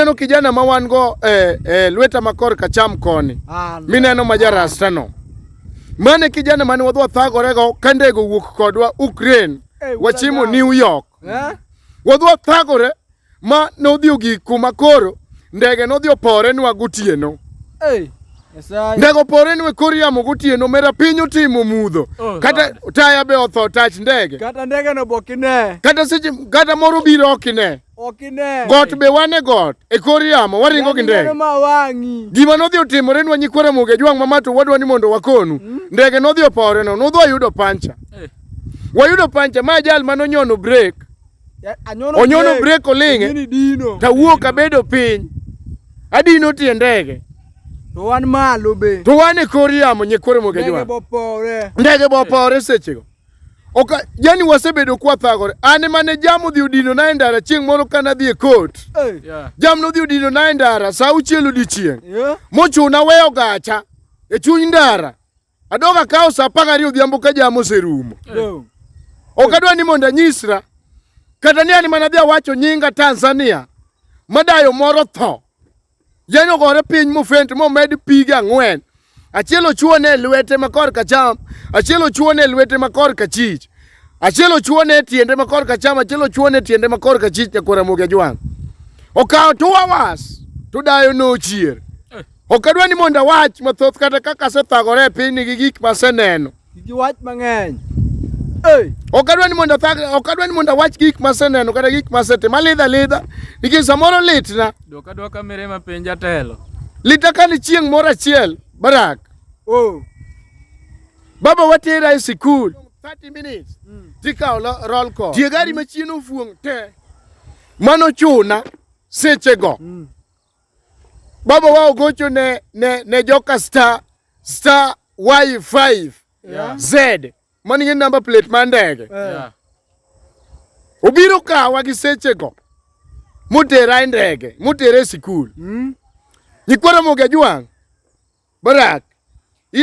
Neno kijana ma wan go eh, eh, lweta makor kacham koni ah, mineno ma jarastano mane kijana mane wadhi wathagorego ka ndego wuok kodwa Ukraine hey, wachimo New York eh? wadhi wathagore ma nodhi ogik kuma koro ndege nodhi opore nwa gotieno hey. Ndego pore nwe kor yamo gotieno mera piny otimo mudho oh, kata taya be otho tach ndege kata ndege no bokine kata seche kata moro biro okine Got be wan e got, e kor yamo, waringo gi ndege. Gima nodhi otimore nwa nyikwa Ramogi Ajwang' Mamato wadwa ni mondo wakonu. Hmm? Ndege nodhi opore no, nodhi ayudo pancha. Eh. Wayudo pancha ma ajal mano nyono break. Onyono break oling'e. Tawuok abedo piny. Adino tie ndege. To wan malo be. To wan e kor yamo nyikwa Ramogi Ajwang'. Ndege bopore sechego. Oka, yani wasebedo kwa thagore. Ane mane jam odhi odino na e ndara chieng' moro ka nadhi e court. Hey. Yeah. Jam nodhi odino na e ndara sa auchiel odiechieng'. Yeah. Mochuna weyo gacha e chuny ndara. Adoga kawo sa apar gariyo odhiambo ka jam oserumo. Dong. Ok adwa ni mondo anyisra kata ni an mana dhi awacho nyinga Tanzania madayo moro tho Yien ogore piny mofent momed pige ang'wen. Achiel ochuone e lwete ma korka cham, achiel ochuone e lwete ma korka chich. Achiel ochuone e tiende ma korka cham, achiel ochuone e tiende ma korka chich nyako Ramogi Ajwang'. Okawo two hours to dayo nochier. Ok adwa ni mondo awach mathoth kata kaka asethagore e pinyni gi gik maseneno. Giwach mang'eny. Ok adwa ni mondo thag, ok adwa ni mondo awach gik maseneno kata gik masetimo. Alidha lidha nikech samoro litna. Dok adwa kamere ma piny jatelo. Lita ka ni chieng' moro achiel Barak. Oh. Baba watera e sikul. 30 minutes. Mm. Tikawo roll call. Tie gari mm. machien ofuong' te. Mano chuna sechego. Mm. baba wao gocho ne, ne, ne joka star star y5 Yeah. z man gi namba plate mar ndege Yeah. obiro kawa gi sechego motera e ndege motera e sikul Mm. nyikwara moga jwang' barak